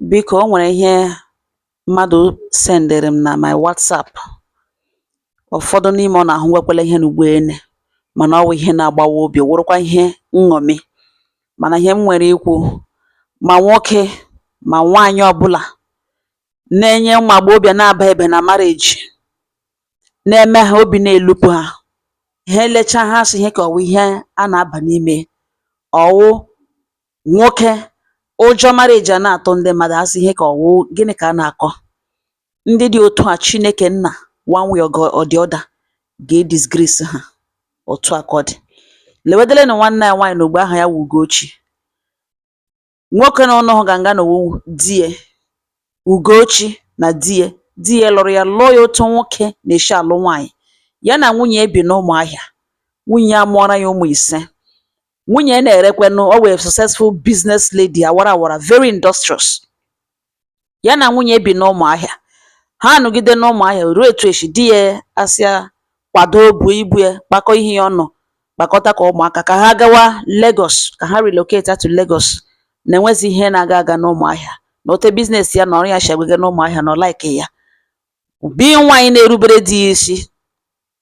Biko o nwere ihe mmadụ sendịrị m na my WhatsApp ụfọdụ n'ime ụnụ ahụwekwala ihe n'ugbo ene mana ọ wụ ihe na-agbawa obi ọ wụrụkwa ihe nṅomi mana ihe m nwere ikwu ma nwoke ma nwaanyị ọbụla na-enye ụmụ agbọghọbịa na-ababeghị na marriage na-eme ha obi na-elupu ha ha elechaa ha sị ihe ka ọ wụ ihe a na-aba n'ime ọ wụ Nwoke, Ụjọ marriage a na-atụ ndị mmadụ, ha sị ihe ka ọ wụ, gịnị ka a na-akọ? Ndị dị otu a, Chineke Nna, one way or the other, ga-edisgrace ha. Otu a ka ọ dị. Lewedelenụ nwanne anyị nwaanyị n'ogbe aha ya wụ Ugochi. Nwoke na ụnụ hụga nga a wụ di ya. Ugochi na di ya. Di ya lụrụ ya, lụọ ya otu nwoke na-esi alụ nwaanyị. Ya na nwunye ya bi n'Ụmụahịa. Nwunye ya mụọra ya ụmụ ise. nwunye na-erekwenụ ọ wụ a successful business lady awara awara very industrious ya na nwunye ya bi n'ụmụahịa ha anọgide n'ụmụahịa ruo otu echi di ya asị ya kwado buo ibu ya kpakọ ihe ya ọnụ kpakọtakwa ụmụaka ka ha gawa Lagos ka ha relocate to Lagos na enwezi ihe na-aga aga n'ụmụahịa na otu business ya na ọrụ ya si agbaga n'ụmụahịa na ọ like ya being nwaanyị na-erubere di ya isi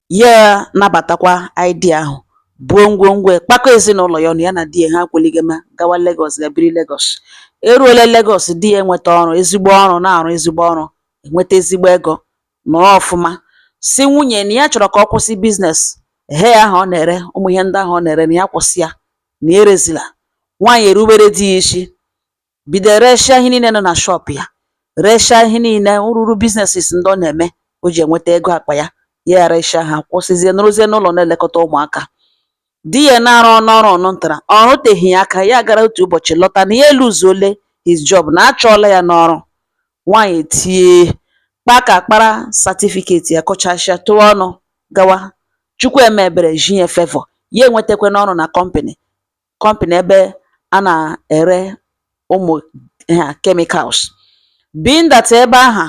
Ya nabatakwa idea ahụ, buo ngwongwo ya, kpakọ ezinụlọ ya ọnụ, ya na di ya ha kwalie gama gawa Lagos ga biri Lagos. E ruola Lagos, di ya enweta ọrụ, ezigbo ọrụ, na-arụ ezigbo ọrụ, enweta ezigbo ego, nọrọ ọfụma. Sị nwunye ya na ya chọrọ ka ọ kwụsị business ihe ahụ ọ na-ere, ụmụ ihe ndị ahụ ọ na-ere na ya kwụsị ya, na ya erezila. Nwaanyị erubere di ya isi. bido resịa ihe niile nọ na shop ya resịa ihe niile rụrụ businesses ndị ọ na-eme o ji enweta ego akpa ya ya eresịa ha kwụsịzie nọrọzie n'ụlọ na-elekọta ụmụaka di ya na-arụnụ ọrụ ọ nwetara ọ rụteghị ya aka ya gara otu ụbọchị lọta na ya eluzuole his job na a chụọla ya n'ọrụ nwaanyị etie kpa ka kpara certificate ya kụchasịa tụọ ọnụ gawa chukwu eme ebere ji ya favour ya enwetakwanụ ọrụ na company company ebe a na-ere ụmụ chemicals being that ebe ahụ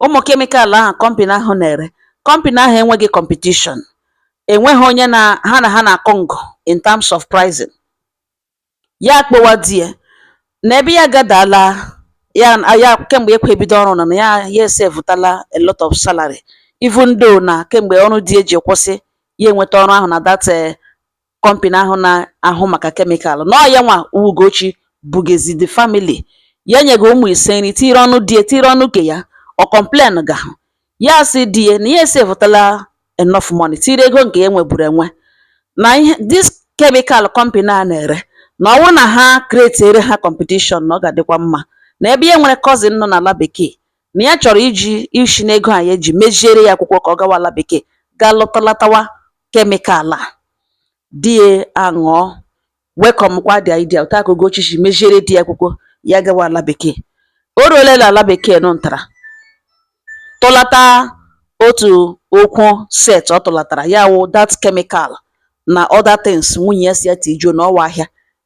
ụmụ chemical ahụ company ahụ na-ere company ahụ enweghị competition enweghị onye na ha na-akọ ngụ in terms of pricing ya akpọwa di ya na ebe ya gadala ya kemgbe ekwe ebido ọrụ na na ya ya esevụtala a lot of salary even though na kemgbe ọrụ di ya ji kwụsị ya enweta ọrụ ahụ na that eh, company ahụ na-ahụ maka chemical na ọ yanwa wụ Ugochi bugezi the family ya nyego ụmụ ise nri tinyere ọnụ di ya tinyere ọnụ ke ya ọ complain ga ha ya sị di ya na ya esevụtala enough money tinyere ego nke ya nweburu enwe na ihe this chemical company a na-ere na ọ wụ na ha create ere ha competition na ọ ga-adịkwa mma na ebe ya nwere cousin nọ n'ala bekee na ya chọrọ iji isi n'ego a ya eji meziere ya akwụkwọ ka ọ gawa ala bekee gaa lọtalatawa chemical a di ya aṅụọ welcome kwa the idea otu a ka Ugochi si meziere di ya akwụkwọ ya gawa ala bekee o ruola na ala bekee nụ ntara tụlata otu okwu set ọ tụlatara ya wụ that chemical na other things nwunye ya sị ya tijuo na ọ wụ ahịa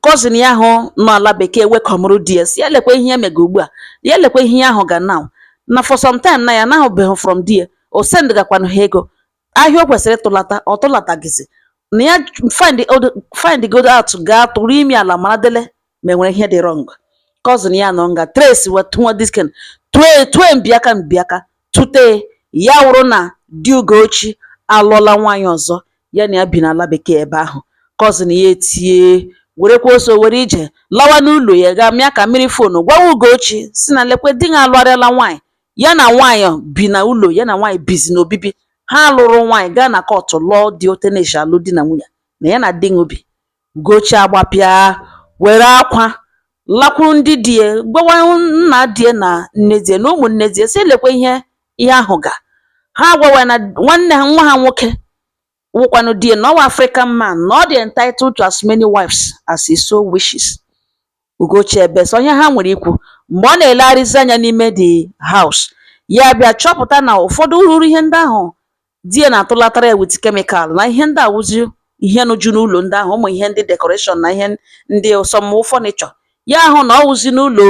cousin ya ahụ nọ ala bekee welcomụrụ di ya sị ya lekwa ihe ya mega ugbu a ya lekwa ihe ya ahụ ga now na for some time na ya anahụbeghị from di ya o sendgakwanụ ha ego ahịa o kwesịrị ịtụlata ọ tụlatagizi na ya find the- find godi out gaa tụrụ imi ala mara dele ma e nwere ihe dị wrong cousin ya nọ nga trace wetụọ disken tue tue mbiaka mbiaka Tụte ya wụrụ na di Ugochi alụọla nwaanyị ọzọ, ya na ya bi n'ala bekee ebe ahụ, cousin ya etie, werekwa ọsọ were ije lawa n'ụlọ ya gaa mịa aka mịrị phone gwawa Ugochi sị na lekwa di gị alụgharịala nwaanyị, ya na nwaanyị bi na ụlọ, ya na nwaanyị bizi n'obibi. Ha lụrụ nwaanyị gaa na court lụọ dị otu e ne-eshi alụ di na nwunye, na ya na di gị bi. Ugochi agbapịa, were akwa lakwuru ndị di ya gwawa nna di ya na nne di ya na ụmụnne di ya sị lekwa ihe ya ahụ ga ha agwawa ya na nwanne ha nwa ha nwoke wụkwanụ di ya na ọ wụ African man na ọ dị entitled to as many wives as he so wishes Ugochi ebee sị ọ ihe ha nwere ikwu. Mgbe ọ na-elegharịzi anya n'ime the house, ya abịa chọpụta na ụfọdụ ruru ihe ndị ahụ di ya na-atụlatara ya with chemical na ihe ndị a wụzi ihe nọju n'ụlọ ndị ahụ ụmụ ihe ndị decoration na ihe ndị some furniture ya ahụ na ọ wụzi n'ụlọ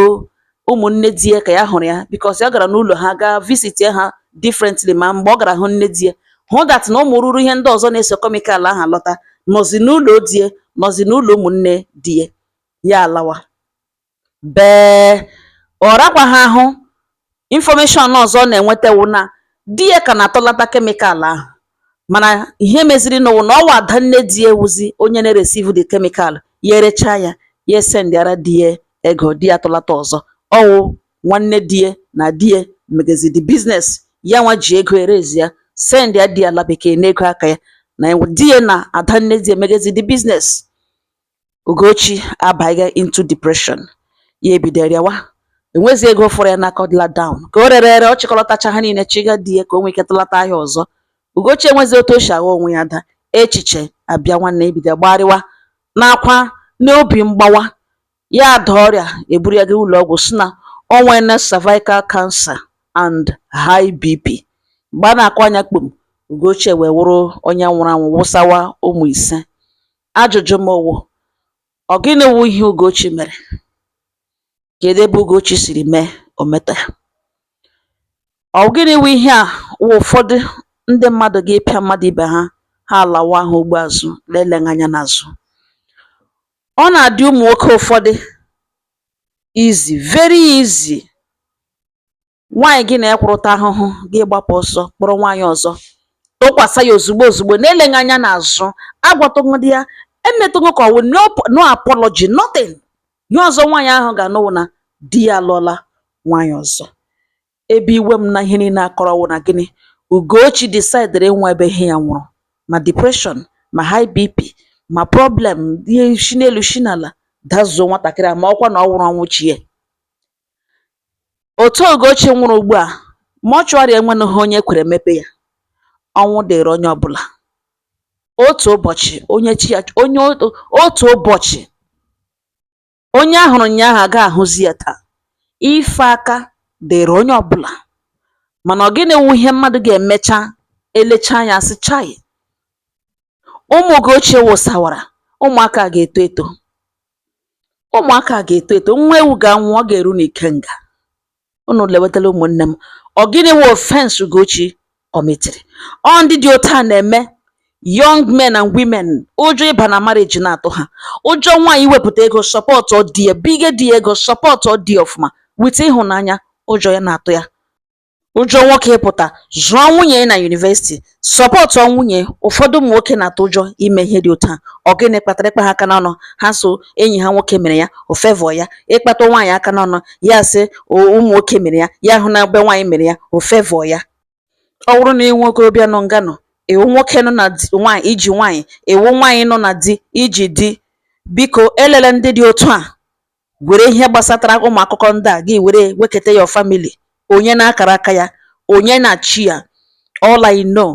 ụmụnne di ya ka ya hụrụ ya because ya gara n'ụlọ ha gaa visit ha differently ma mgbe ọ gara hụ nne di ya hụ that na ụmụ ruru ihe ndị ọzọ na-eso chemical ahụ alọta nọzi n'ụlọ di ya nọzi n'ụlọ ụmụnne di ya ya alawa bee ọ rakwaghị ahụ information ọzọ ọ na-enweta wụ na di ya ka na-atụlata chemical ahụ mana ihe meziri nụ wụ na ọ wụ ada nne di ya wụzi onye na-ereceive the chemical ya erechaa ya ya esendịara di ya ego di ya atụlata ọzọ ọ wụ nwanne di ya na di ya megezi the business ya nwa ji ego erezi ya sendịa di ya ala bekee n'ego aka ya na di ya na ada nne di ya megezi the business Ugochi abanye into depression, ya ebido rịawa, enwezi ego fọrọ ya n'aka ọ dịla down. Ka o rere ere, ọ chịkọlọtacha ha niile chịga di ya ka o nwee ike tụlata ahịa ọzọ. Ugochi enwezi otu o si agha onwe ya ada, echiche abịa nwanne ya ebido gbarịwa n'akwa n'obi mgbawa, ya ada ọrịa eburu ya gaa ụlọ ọgwụ sị na o nweela cervical cancer and high BP. Mgbe a na-akụ anya kpom, Ugochi ewee wụrụ onye nwụrụ anwụ wụsawa ụmụ ise. Ajụjụ m wụ, ọ gịnị wụ ihe Ugochi mere? Kedu ebe Ugochi siri mee ometa ya? Ọ gịnị wụ ihe a wụ ụfọdụ ndị mmadụ ga-ịpịa mmadụ ibe ha ha alawa ha ugbo azụ na-eleghị anya n'azụ? Ọ na-adị ụmụ nwoke ụfọdụ easy very easy Nwaanyị gị na ya kwụrụ taa ahụhụ gị gbapụ ọsọ kpọrọ nwaanyị ọzọ tụkwasị ya ozugbo ozugbo na-eleghị anya n'azụ agwatụghị ya emetụghị ka ọ wụ no apology nothing ihe ọzọ nwaanyị ahụ ga-anụ wụ na di ya alụọla nwaanyị ọzọ ebe iwe m na ihe niile a kọrọ wụ na gịnị Ugochi decidere ịnwa ebe ihe ya nwụrụ ma depression ma high BP ma problem ihe shi n'elu shi n'ala dazuo nwatakịrị a ma ọkwa na ọ nwụrụ ọnwụ chi ya Otu Ugochi nwụrụ ugbu a, mortuary enwenụghị onye kwere mepe ya. Ọnwụ dịrị onye ọbụla. Otu ụbọchị onye chi ya onye otu ụbọchị onye a hụrụ ụnyaahụ agaghị ahụzi ya taa. Ife aka dịrị onye ọbụla. Mana ọ gịnị wụ ihe mmadụ ga-emecha elechaa anya sị chai ụmụ Ugochi wụsawara ụmụaka a ga-eto eto. Ụmụaka a ga-eto eto, nwa ewu ga-anwụ, ọ ga-eru n'ikenga. Unu lewetala ụmụnne m. Ọ gịnị wụ offence Ugochi commitiri? Ọ ndị dị otu a na-eme young men and women ụjọ ịba na marriage na-atụ ha. Ụjọ nwaanyị iwepụta ego sọpọtụ di ya, binye di ya ego sọpọtụ di ya ọfụma with ịhụnanya, ụjọ ya na-atụ ya. ụjọ nwoke ịpụta zụọ nwunye na university sọpọtụọ nwunye ụfọdụ ụmụ nwoke na-atụ ụjọ ime ihe dị otu a ọ gịnị kpatara ị kpa ha aka n'ọnụ ha sị enyi ha nwoke mere ya ọ favour ya ị kpata nwaanyị aka n'ọnụ ya sị ụmụ nwoke mere ya ya hụ na ebe nwaanyị mere ya ọ favour ya ọ wụrụ na i nwe okorobịa nọ nga nọ ị wụ nwoke nọ na nwaanyị i ji nwaanyị ị wụ nwaanyị nọ na di i ji di biko elele ndị dị otu a were ihe gbasatara ụmụ akụkọ ndị a gị were weketa your family onye na akara aka ya onye na chi ya all I know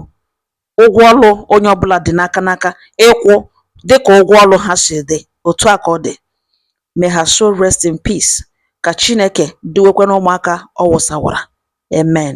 ụgwọ ọrụ onye ọbụla dị n'aka n'aka ịkwụ dịka ụgwọ ọrụ ha si dị otu a ka ọ dị may her soul rest in peace ka Chineke duwekwana ụmụaka ọ wụsawara amen